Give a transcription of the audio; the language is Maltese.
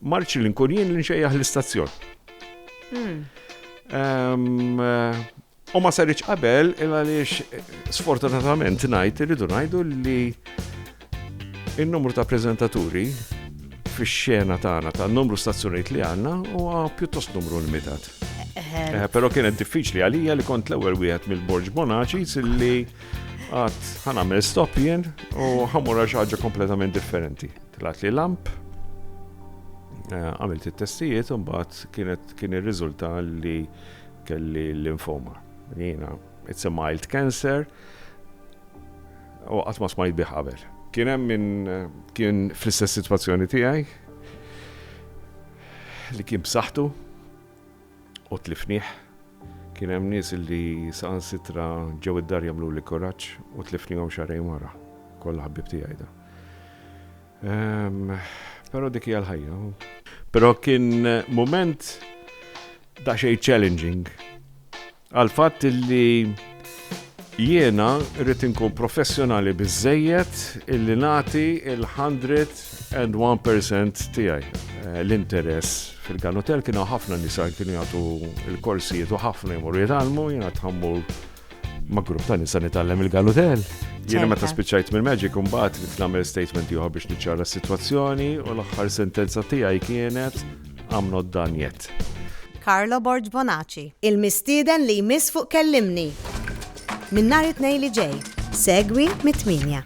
Ma rridx li nkun jien li nxejjaħ l-istazzjon. U ma saritx qabel il għaliex sfortunatament ngħid irridu ngħidu li il-numru ta' prezentaturi fix-xena tagħna ta' numru stazzjonijiet li għandna huwa pjuttost numru limitat. Eh, però kienet diffiċli għalija li kont l-ewwel wieħed mill-Borġ Bonaċi silli għad ħanamel stop jien u ħamura xi ħaġa kompletament differenti. Tlgħatli lamp, għamilt it-testijiet u mbagħad kienet kien irriżulta li kelli l-linfoma. Jiena it's a mild cancer u qatt ma smajt bih qabel. Kien hemm min kien fl-istess sitwazzjoni tiegħi li kien b'saħħtu. u tlifnih. Kien hemm nies li saħansitra ġew id-dar jagħmluli kuraġġ u tlifnihom xahrejn wara. Kollha ħbieb tiegħi dawn. Ehm, però dik hija l-ħajja. Però kien mument daqsxejn challenging Għal fatt li jiena rrid inkun professjonali biżejjed illi nagħti il-101% tiegħi. Eh, l-interess fil-kanotel kienu ħafna nisa kienu jagħtu l-korsijiet u ħafna jmur jitgħallmu jiena tħammur ma' grupp ta' nisa nitgħallem il-kanotel. Jiena meta spiċċajt minn Magic imbagħad nagħmel statement ieħor biex niċċara s-sitwazzjoni u l-aħħar sentenza tiegħi kienet I'm not done yet. Carlo Borg Bonaci. Il-mistieden li jmiss fuq Kellimni. Minn nhar it-Tnejn li ġej, segwi mit-tmienja.